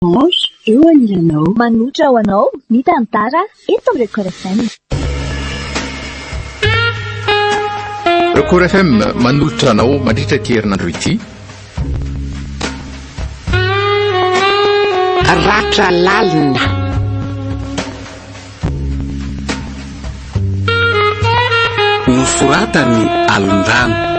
Orange eo anilanao. Manotra ho anao ny tantara eto amin'ny Record FM. Record FM manolotra anao mandritra ity herinandro ity. Ratra lalina. nosoratany alondrano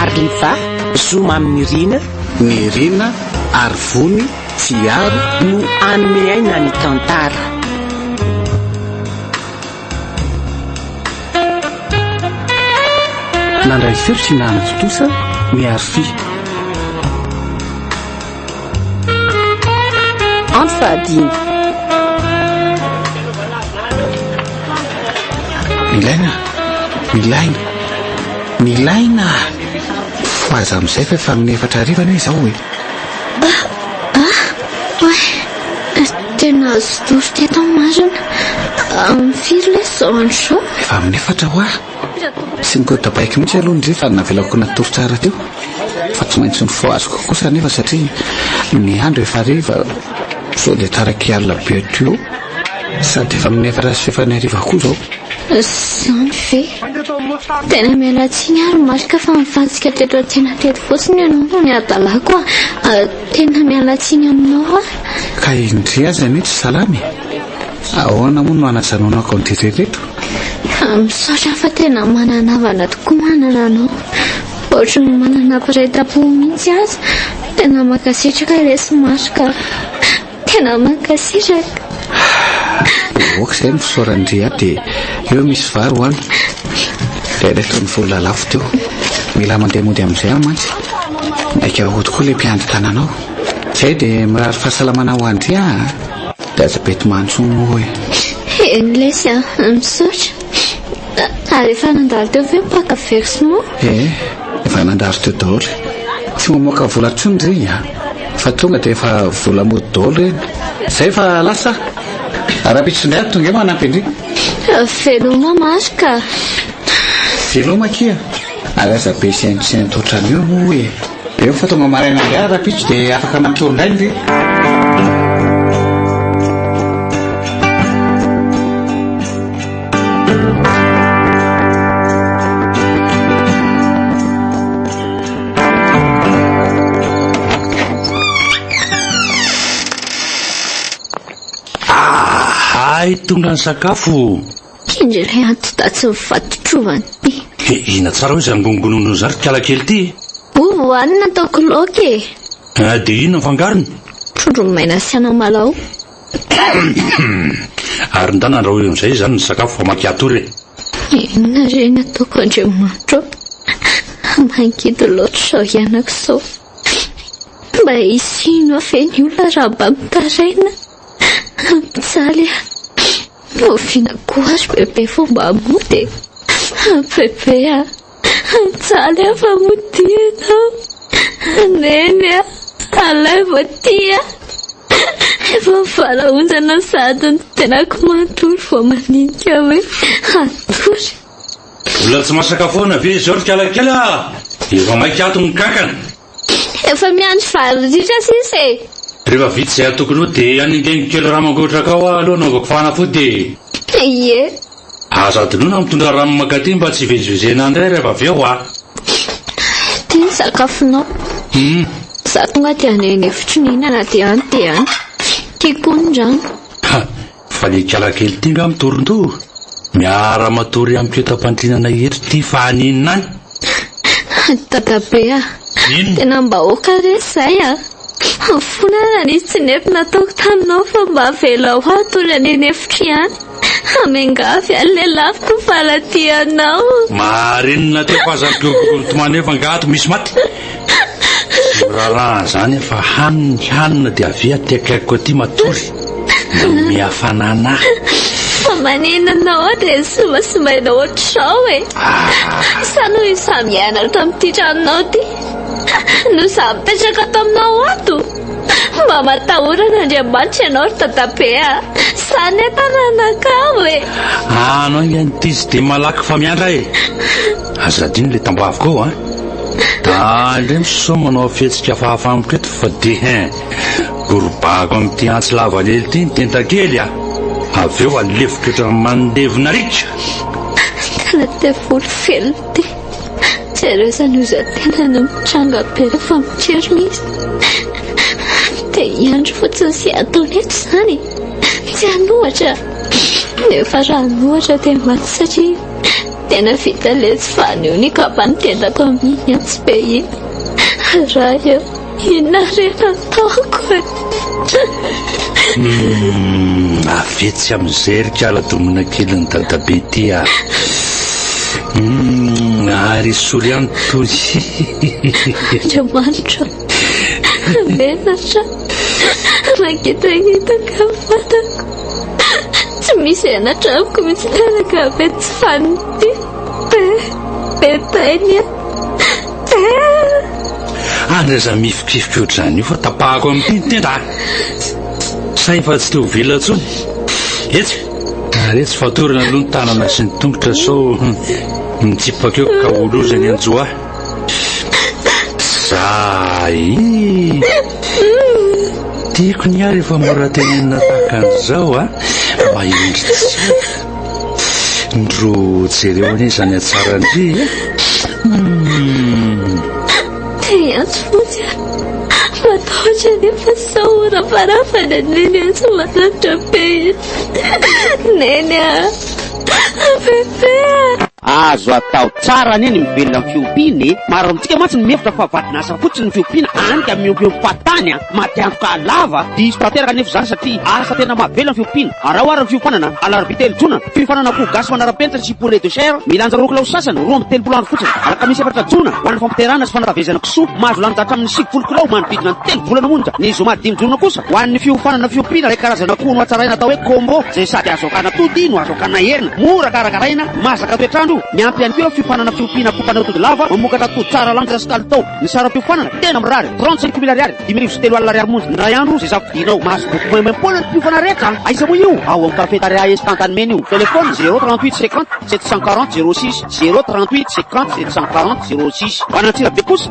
Arliva, zo mamy Nirina, Nirina, Arivony, Tsiaro, no hanome aina ny tantara. Nandray seho sy nanatontosa ny Arfi. Andro fahadimy. Milaina, milaina, milaina. Ho aza amin'izay fa efa amin'ny efatra hariva anie izao e. Ah, ah, oay, tena azo doro teto amin'ny marina. Amin'ny firy ilay izao andro izao? Efa amin'ny efatra ho aho. Tsy nigodabaiko mihitsy aloha ndry fa navelako natory tsara teo fa tsy maintsy nifohaziko kosa nefa satria ny andro efa hariva sao dia taraky alina be teo sady efa amin'ny efatra sy fefany hariva koa izao. Izany ve? Tena miala tsiny ary marika fa nifantsika teto an-tsena teto fotsiny ianao no nihadalako a. Ah, tena miala tsiny aminao aho. Ka indry aza anie tsy salama e. Ahoana moa no hanazanao ny Akondritra ireto? Misaotra fa tena manana havana tokoa manana anao. Ohatry ny manana mpiray tampo mihitsy aza. Tena mankasitraka lesy Marc a. Tena mankasitraka. Dia ok izay misaora ndry a dia eo misy vary ho any. Dia ireto ny vola lafo teo. Mila mandeha mody amin'izay aho mantsy. Maika ho tokoa ilay mpiandry tananao. Izay dia mirary fahasalamana ho an-dry a. Dia aza bety mantsy moa e. Heny lesy a! Misaotra. Ary efa nandalo teo ve ny mpaka versement? Ee, efa nandalo teo daholo e. Tsy mamoaka vola intsony ry a! Fa tonga dia efa vola mody daholo eny. Izay fa lasa a! Rahampitso indray ary tonga eo manampy an-dry. Veloma Marc a! Veloma akia! Ary aza be sainte sainte otran'io moa e! Eo fa tonga maraina indray ary rapitso dia afaka matory indray ny reny. Hay tonga ny sakafo. Indry ilay antidatsy nivadi-trovana ity. He, hihina tsara hoy izany gongononao izany ry kala kely ity e! Ovy hohanina ataoko laoka e! Ah, dia inona ny fangarony? Trondro maina sy anamalaho. Ary ndà nandrahoy amin'izay izany ny sakafo fa maika hatory e! Inona re ny ataoko Andriamanitro a! Mangidy loatra izao hianako izao. Mba hisy hino aho ve ny olona raha mba mitaraina? Mijaly aho. Oviana koa ry bebe vao mba mody e? An bebe a! An jaly a fa modia ianao! An neny a! Alain vao tia! Efa mivalaozana sady ny tenako manontolo vao mandinika hoe hatory. Mbola tsy masaka foana ve izao ry kalakely a! Efa maika ato ny kankana! Efa miandry vary ritra sisa e. Rehefa vita izay atokony ho dia hanengeniko kely rano mangotraka ao aho aloha hanaovako fanafody e. Ie. Aza adinoina mitondra rano mankaty mba tsy hivezivezena indray rehefa avy eo a. Ity ny sakafonao. Hum. Za tonga dia any an'efitry ny hihinana dia any dia any. Tiako koa ny rano. Ha. Fa ny kala kely ity nga mitorintory miara matory amiko eto am-pandrinana eto ity fa haninona any? Hay dadabe a! Tena mba aoka re izay a! Fona ary raha nisy tsy nety nataoko taminao fa mba avelao aho hatory any an'efitra ihany fa miangavy any lelafiko fa raha tianao. Marinona aty fa aza ampiorokoroy mitomany eo fa nga ato misy maty. Tsy miraharaha an'izany aho fa hany ny hanina dia avia aty akaikiko aty matory. Manome hafanana ahy. Fa manina anao aho dia sombasombaina ohatr'izao e. Ah. Sa noho izy samy nianatra tamin'ity tranonao ity no samy mipetraka ato aminao ato? Mba matahora an'Andriamanitra ianao ry Dadabe a. Sa nefa nanakavo e. Anao ange an'ity tsy dia malaky famiandra e. Aza adino le tambaviko ao an! Ah le misaoa manao fihetsika fahafa amiko eto fa de hein! Gorobahako amin'ity antsy lavalely ity ny tentakely ah! Avy eo aleviko ohatran'ny mandevina riaka! Tena devoly velona ity! Jereo izany ozan-tena no mitranga be rehefa mitrerona izy! Te hiandry fotsiny sy ataony eto izany e! Tsy hanohatra! Nefa raha hanohatra dia maty satria Tena vita letsy fa anio ny kapa nitendako amin'ny antsibe iny Ray a! inona re no ataoko e! Humm avetsy amin'izay ry kala domina kelin'i dadabe ty a! humm ary esory ihany toy hihihihihi! Andriamanitra a! menatra! Mangitangitaka ny vatako. Tsy misy anatra amiko mihitsy taraka be tsy faniny ty. Be, be tainy ah. Be. Ary aza mihifikifiky ohatr'izany io fa tapahako amin'ny pin tenda ah. Sa efa tsy te ho vila intsony? Etsy, ary etsy fatorana aloha ny tanana sy ny tongotra sao mitsipaka eo ka ho loza ny anjo ah. Zah ee! Tiako ny ahy rehefa mora tenenina tahaka an'izao a! Mahendry tsaina! Ndro jereo anie izany hatsaran-dry e! Hum! Te hiantso fotsy aho. Matahotra anefa sao ho rafarafana ny Neny ahy tsy maharitra be iny. Neny a! Bebe a! Azo atao tsara anie ny mivelona amin'ny fiompiana e! Maro amintsika mantsy no mihevitra fa vadin'asa fotsiny ny fiompiana, any ka miompiompy fahatany an! Maty antoka lava! Diso tanteraka anefa izany satria asa tena mahavelona ny fiompiana. Araho ary ny fiofanana, Alarobia telo jona, fiofanana akoho gasy manara-penitra sy poulet de chair, milanja roa kilao sy sasany, roa amby telopolo andro fotsiny. Alakamisy efatra jona, ho an'ny fampiterahana sy fanabeazana kisoa, mahazo lanja hatramin'ny sivifolo kilao manodidina ny telo volana monja, ny zoma dimy jona kosa, Ho an'ny fiofanana fiompiana ilay karazana akoho nohatsaraina atao hoe Combo izay sady azo akana atody no azo akana hena, mora karakaraina, masaka toetr'andro, miampy ihany koa eo fiofanana fiompiana akoho mpanatody lava mamokatra atody tsara lanitra sy kalitao. Ny saram-piofanana tena mirary, trente cinq mille ariary, dimy arivo sy telo alina ariary monja ny iray andro izay safidianao. Mahazo boky maimaim-poana ny mpiofana rehetra. Aiza moa io? Ao amin'ny Cafetaria Est Antanimena io. Téléphone, zéro trente huit cinquante sept cent quarante zéro six, zéro trente huit cinquante sept cent quarante zéro six. Ho an'Antsirabe kosa,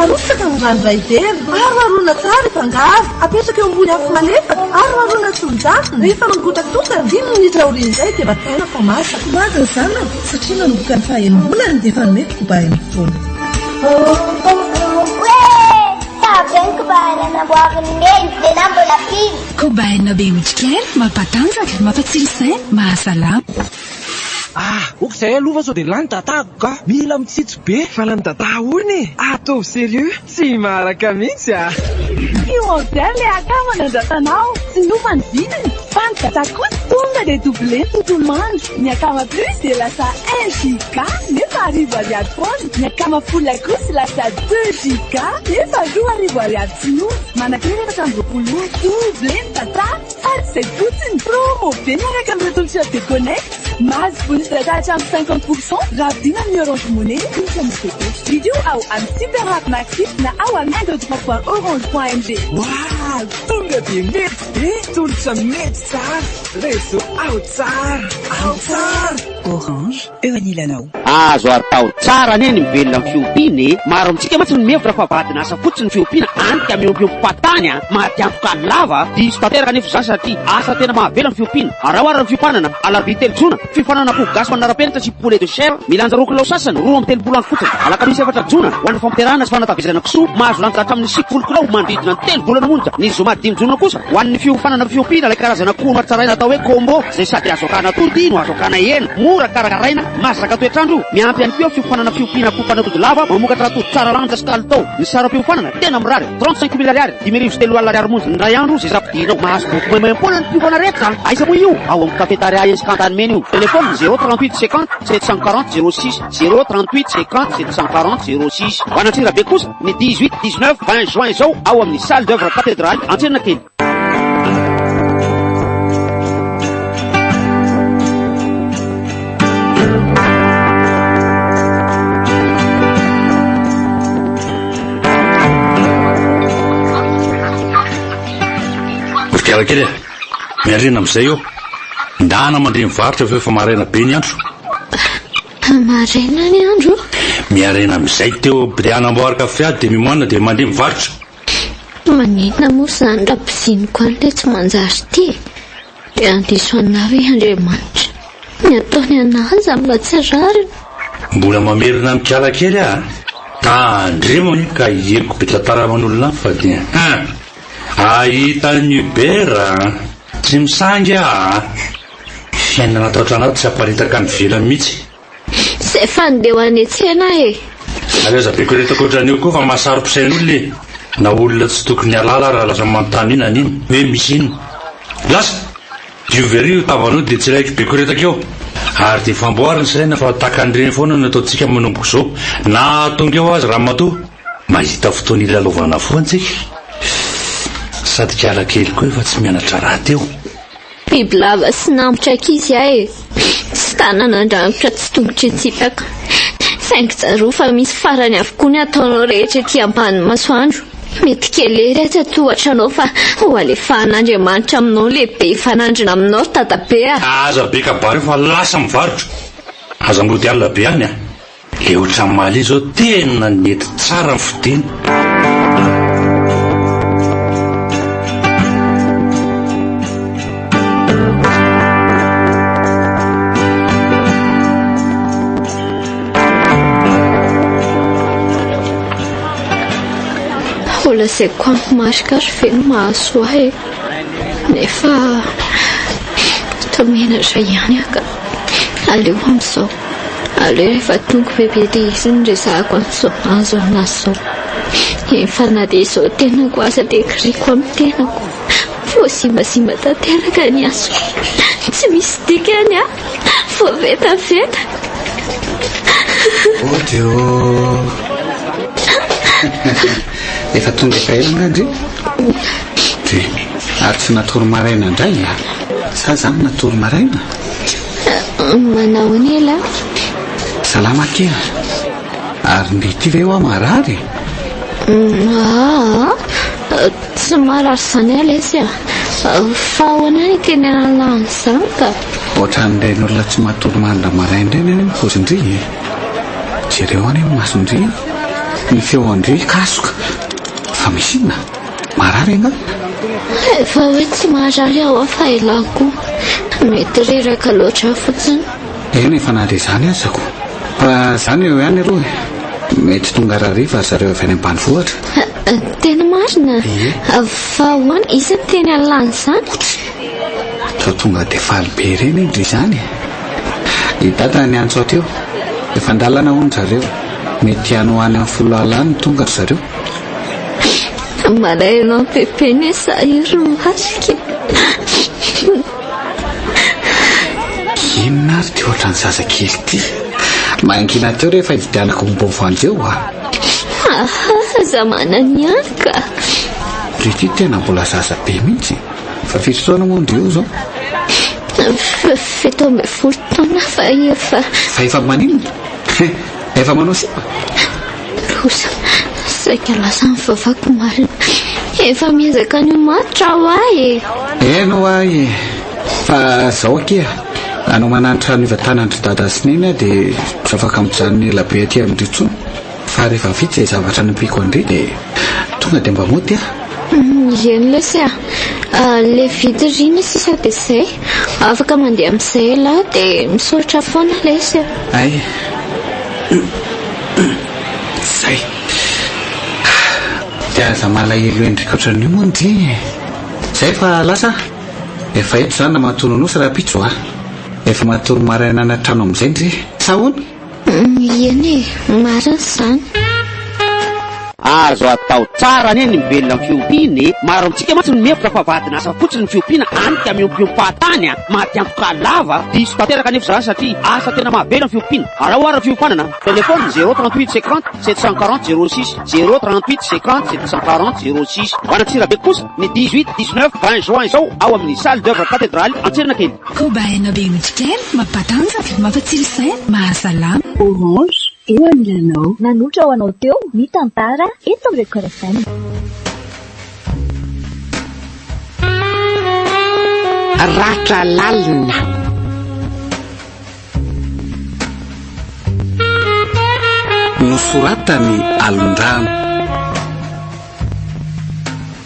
Arotsaka ny ranoray dera. Aroharoana tsara efa ngaro. Apetraka eo ambony afo malefaka. Aroharoana tsy mijanona. Rehefa mangotakotaka, dimy minitra aorian'izay dia bataina fa masaka. Ho avy ny zanany satria nanomboka ny fahaenim-bolany dia efa nomeko koba iray mifono. Oe! Tsara be ny koba hena namboarin'i Neny, nenahy mbola mpino. Koba hena be otrikaina, mampatanjaka, mampatsilo saina, mahasalama. Ah! ok zay aloha fa sao dia lany dadako ka! Mila mitsitsy be! Fa lany dadah hono e! Ataovy serieux! Tsy maharaka mihitsy ah! Tsy modèle le akama nandratanao, tsy nova ny vidiny fa ny dada kosa tonga dia doublé ny tontolo andro, ny akama plus dia lasa un giga nefa arivo ariary foana, ny akama full kosa lasa deux giga nefa roa arivo ariary tsy nova, manakirevatra amby roapolo ora, doublé ny data. Ady izay fotsiny! Promo be miaraka amin'ny retoa Shop de Connect. Mahazo bonus data hatramin'ny cinquante pour cent raha vidiana amin'ny Orange Money ny cookies MCT. Vidio ao amin'ny Super App Maxi na ao amin'ny Indodra point orange point ng. Waal! Tonga dia mety be, tolotra mety tsara, réseau ao tsara, ao tsara! Orange. eo anilanao. Azo atao tsara anie ny mivelona amin'ny fiompiana e! Maro amintsika mantsy no mihevitra fa vadin'asa fotsiny ny fiompiana any ka miompiompy fahatany an! Maty antoka any lava! Diso tanteraka anefa izany satria asa tena mahavelo ny fiompiana. Araho ary ny fiompanana, alarobia telo jona, fiofanana akoho gasy manara-penitra sy poulet de chair milanja roa kilao sasany, roa amby telopolo andro fotsiny, alakamisy efatra jona, ho an'ny fampiderana sy fanatavezana kisoa, mahazo lanja hatramin'ny sivifolo kilao manodidina ny telo volana monja, ny zoma dimy jona kosa. Ho an'ny fiofanana fiompiana ilay karazana koa nohatsaraina atao hoe Combo izay sady azo akana atody no azo akana hena, mora karakaraina, masaka toetr'andro, miampy ihany koa fiofanana fiompiana akoho mpanatody lava mamokatra atody tsara lanja sy kalitao. Ny saram-piofanana tena mirary, trente cinq mille ariary, dimy arivo sy telo alina ariary monja ny iray andro izay za fidirinao. Mahazo boky maimay am-poana ny mpiofana rehetra an! Aiza moa io? Ao amin'ny Cafetaria Escante any Mena io. Telefônina, zéro trente huit cinquante sept cent quarante zéro six, zéro trente huit cinquante sept cent quarante zéro six. Ho an'Antsirabe kosa, Ny dix huit, dix neuf, vingt juin izao ao amin'ny Salle d'oeuvre Cathedrale, Antsenakely. Mpikarakely e, miarina amin'izay eo. Ndana mandre mivarotra fa efa maraina be ny andro. Tany maraina ny andro. Miharena amin'izay teo Briana Amboarikafia dia mimoana dia mandeha mivarotra. Maninona moa izany raha piziniko any ilay tsy manjary ity e? Dia handiso anà ve Andriamanitra? Ny ataony anà aza mba tsy rariny. Mbola mamerina mikala kely aho a! Tandremo anie ka hiheriko be tantara aman'olona any fa dia hein! Ahita an'i Hubert a! Tsy misangy aho a! Fiainana ato an-trano ato tsy haparitaka any ivelany mihitsy. Zay fa ndeha any an-tsena aho e! Ary aza be koretaka ohatran'io koa fa mahasaro-pisain'olona e! Na olona tsy tokony hialala ary lasa manontany io na an'ino hoe misy inona. Lasa! Diovy ery io tavanao dia tsiraiky be koretaka eo. Ary dia famboary ny saina fa tahaka an'ireny foana no ataontsika manomboka izao na hahatonga eo aza ramatoa. Mahita fotoana hilalaovana foana tsika. Fff! Sady kiala kely koa io fa tsy mianatra rahateo. Bibilava sy namotry ankizy ahy e! Tsy tanana andrangotra tsy tongotra hitsipaka. Saingy tsarovy fa misy farany avokoa ny ataonao rehetra ety ambanin'ny masoandro. Mety kely ery aza tohatra anao fa ho alefahan'Andriamanitra aminao lehibe hifanandrina aminao dadabe a! Aza be kabary fa lasa mivarotra! Aza mody alina be any a! Le ohatran'i Mali zao tena nety tsara ny fodiany. Holazaiko amiko marika ary ve no mahasoa ahy e? Nefa toa menatra ihany aho ka aleo amin'izao. Aleo rehefa tonga bebe dia izy no resahako an'izao azo aminazy izao. Efa na dia izao tenako aza dia kiriako amin'ny tenako. Voasimbasimba tanteraka ny asako. Tsy misy dikany aho. Voavetaveta. Oh dia Efa tonga efa ela nga ndry. Dia ary tsy natory maraina indray. Sa zany natory maraina? Manahoana e la? Salama kely. Ary ndeha ity ve hoa marary e? Aa, tsy marary izany aho lesy a. Fa ahoana ny teny an'izany ka? Ohatran'ireny olona tsy matory mandra maraina ireny anie ny pozin-dry e. Jereo anie ny masondry, ny feon-dry kasoka. Fa misy inona? Marary angaha? Efa hoe tsy marary aho fa ialahy koa mety reraka loatra fotsiny. Eny efa na dia izany aza koa. Fa izany eo ihany aloha e. Mety tonga rariva ry zareo avy any ambanivohitra. Tena marina? Ie. Fa ahoana izy no teny alàny izany? Sao tonga dia faly be ireny indry izany? I dada niantso aho teo. Efa an-dalana hono ry zareo. Mety hanohany amin'ny folo alina tonga ry zareo. Maraina ao am-pepeny hoe sahirana ny masoko e. Inona ary ity ohatran'ny zazakely ity? Mangina teo rehefa ividianako ny bovandy eo a. Ahaha, za manana ihany ka. Ry ity tena mbola zaza be mihitsy. Fa firy taona moa ndry io zao? Fito ambin'ny folo taona fa efa. Fa efa maninona? Efa manao sipa? kosa saika lasa ny vavako marina. Efa miezaka ny ho matotra aho ahy e! Eny ho ahy e! Fa zao akia, anao mananatra ny vatanan-dry dada sy neny aho dia tsy afaka mijanona ela be aty amin-dry intsony fa rehefa vita izay zavatra nampiako an-dry dia tonga dia mba mody aho. Eny lesy a! Ilay vita ry ny sisa dia izay. Afaka mandeha amin'izay ialahy dia misaotra foana lesy a! Hay! Humm zay! Ahh de aza malahelo endrika otran'io moa nge e! Zay fa lasa a! Efa eto za na matory nonosy rahampitso a! Efa matory maraina any an-trano amin'izay nge! Sa ahoana? Humm ieny e! Marina zany! Azo atao tsara anie ny mivelona amin'ny fiompiana e! Maro amintsika mantsy no mihevitra fa vadin'asa fotsiny ny fiompiana any ka miompiompàn-tany a! Maty antoka lava a! Diso tanteraka anefa izany satria asa tena mahavela ny fiompiana. Araho ary ny fiofanana. Telephone, zéro trente huit cinquante sept cent quarante zéro six, zéro trente huit cinquante sept cent quarante zéro six. Ho an'Antsirabe kosa ny dix huit, dix neuf, vingt juin izao ao amin'ny Salle d'oeuvre Katedraly Antsiranakely. Koba aina be otrik'aina, mampatanjaka, mampatsilo saina, mahasalama. Orange, Eo ny lanao. Nanotra ho anao teo ny tantara eto amin'ny Record FM. Ratra lalina. Nosoratany Alondrano.